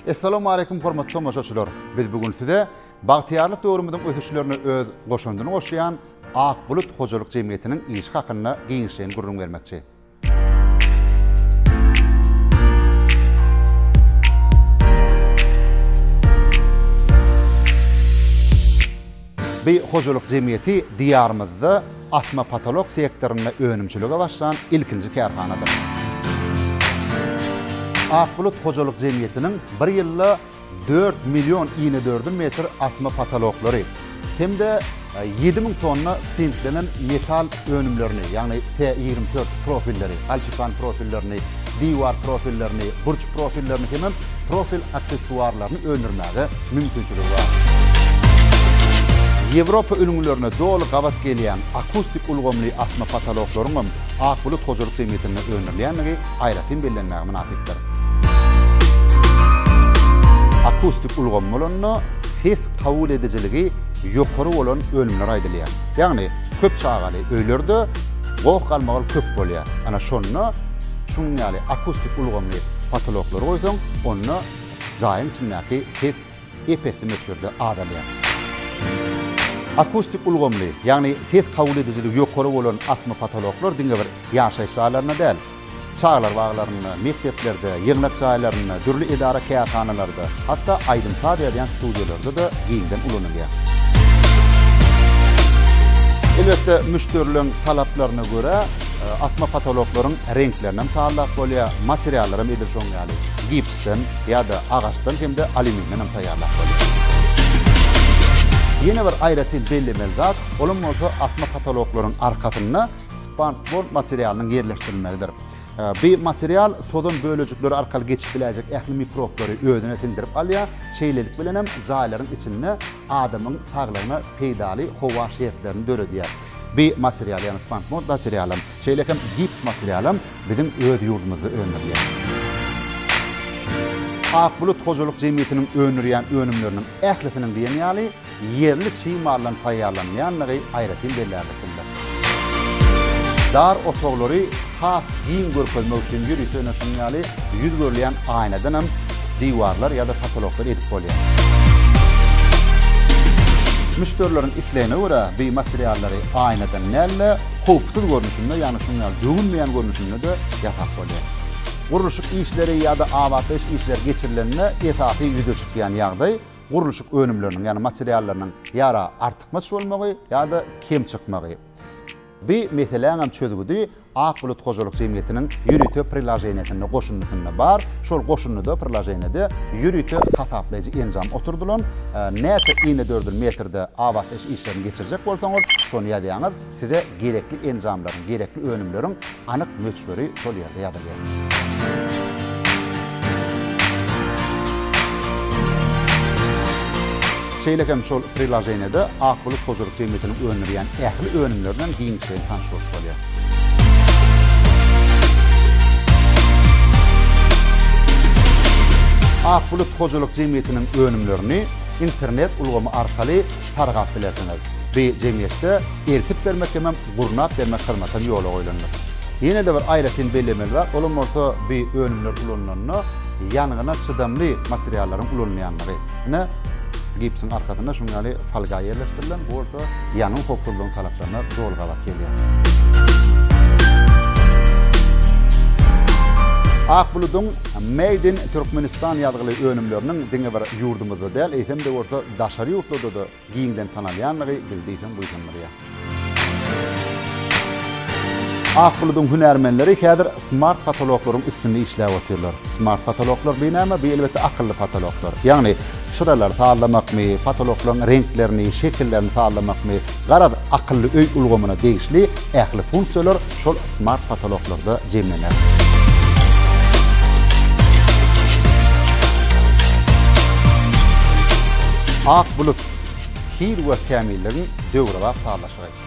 Essalamu aleýkum hormatly tomaşaçylar. Biz bu gün size Bagtyýarlyk döwrümiziň ösüşlerine öz goşandyny goşýan Ak bulut hojalyk jemgyýetiniň işi hakynda giňişleýin gürrüň bermekçi. Bu hojalyk jemgyýeti diýarymyzda Asma potolok sektorynda önümçilige başlan ilkinji kärhanadyr. Ak bulut hojalyk jemgyýetiniň bir ýylda dört million inedördüm metr asma potoloklary hem-de ýedi müň tonna sintlenen metal önümlerini, ýagny T ýigrimi dört profilleri, galçypan profillerini, diwar profillerini, burç profillerini hemem profil aksessuarlaryny öndürmäge mümkinçiligi bar. Ýewropa ülňülerine doly gabat gelýän akustik ulgamly asma potoloklaryň hem Ak bulut hojalyk jemgyýetinde öndürilýändigi aýratyn bellenmäge mynasypdyr. Akustik ulgam bolanda ses kabul edijiligi ýokary bolan önümler aýdylýar. Ýagny köp çagaly öýlerde goh-galmagal köp bolýar. Ana şonda Çuň ýaly akustik ulgamly potoloklary goýsaň, onda jaýyň içindäki ses ep-esli möçberde azalýar. Akustik ulgamly, ýagny ses kabul edijiligi ýokary bolan asma potoloklar diňe bir ýaşaýyş jaýlarynda däl, çagalar baglarynda, mekdeplerde, ýygnak jaýlarynda, dürli edara-kärhanalarda, hatda aýdym-saz ýazýan studiýalarda-da giňden ulanylýar. Elbetde, müşderileriň talaplaryna görä, Asma potoloklaryň reňklerinem sallap bolýar, materiallaram edil şoň ýaly gipsden ýa-da agaçdan hem-de alýumindenem taýýarlap bolýar. Ýene bir aýratyn bellemeli zat, olam bolsa asma potoloklaryň arkasynda spandbond materialynyň ýerleşdirilmegidir. Bi material tozan bölejikleri arkaly geçip biläýjek ähli mikroplary özüne siňdirip alýar, şeýlelik bilenem jaýlaryň içinde adamyň saglygyna peýdaly howa şertlerini döredýär. Bi material, ýagny banknot baterialam, şeýle hem gips materialam biziň öz ýurdumyzda öndürilýär. Ak bulut hojalyk jemgyýetiniň öndürýän önümleriniň ählisiniň diýen ýaly ýerli çig maldan taýýarlanylýandygy aýratyn bellärlik dyndyr. Dar otaglary has giň görkezmek üçin ýörite öne şunuň ýaly ýüz görülýän aýnadan hem diwarlar ýa-da potoloklar edip bolýar. Müşderileriň islegine görä bu materiallary aýnadan däl-de, howpsuz görnüşinde, ýagny şunuň ýaly döwülmeýän görnüşinde-de ýasap bolýar. Gurluşyk işleri ýa-da abatlaýyş işleri geçirilende esasy ýüze çykýan ýagdaý gurluşyk önümleriniň, ýagny materiallarynyň ýa-da artykmaç bolmagy ýa-da kem çykmagy. Bu meseläňem çözgüdi Ak bulut hojalyk jemgyýetiniň ýörite prilaženiýesinde, goşundysynda, bar. Şol goşundyda, prilaženiýede ýörite hasaplaýjy enjam oturdylan. Näçe inedördül metrde abatlaýyş işlerini geçirjek bolsaňyz, şony ýazýaňyz. Size gerekli enjamlaryň, gerekli önümleriň anyk möçberi şol ýerde ýazylýar. Şeýle hem şol prilaženiýede Ak bulut hojalyk jemgyýetiniň öndürýän ähli önümleri bilen giňişleýin tanyş bolup bolýar. Ak bulut hojalyk jemgyýetiniň önümlerini internet ulgamy arkaly sargap bilersiňiz. Bi jemgyýetde eltip bermek hemem gurnap bermek hyzmaty hem ýola goýlandyr. Ýene-de bir aýratyn bellemeli zat, olam bolsa bi önümler ulanylanda ýangyna çydamly materiallaryň ulanylýandygy. Ine, gipsiň arkasynda şunuň ýaly folga ýerleşdirilen, bu bolsa ýangyn howpsuzlygyň talaplaryna doly gabat gelýär. Ak buludyň Made in Türkmenistan ýazgyly önümleriniň diňe bir ýurdumyzda däl, eýsem-de bolsa daşary ýurtlarda-da giňden tanalýandygy bizi diýseň buýsandyrýar. Ak buludyň hünärmenleri häzir smart potoloklaryň üstünde işläp otyrlar. Smart potoloklar bu näme? Bu elbetde akylly potoloklar. Ýagny çyralary sazlamakmy, potoloklaryň reňklerini, şekillerini sazlamakmy, garaz, akylly öý ulgamyna degişli ähli funksiýalar şol smart potoloklarda jemlener. Ak bulut, hil we kämilligiň döwrebap sazlaşygy.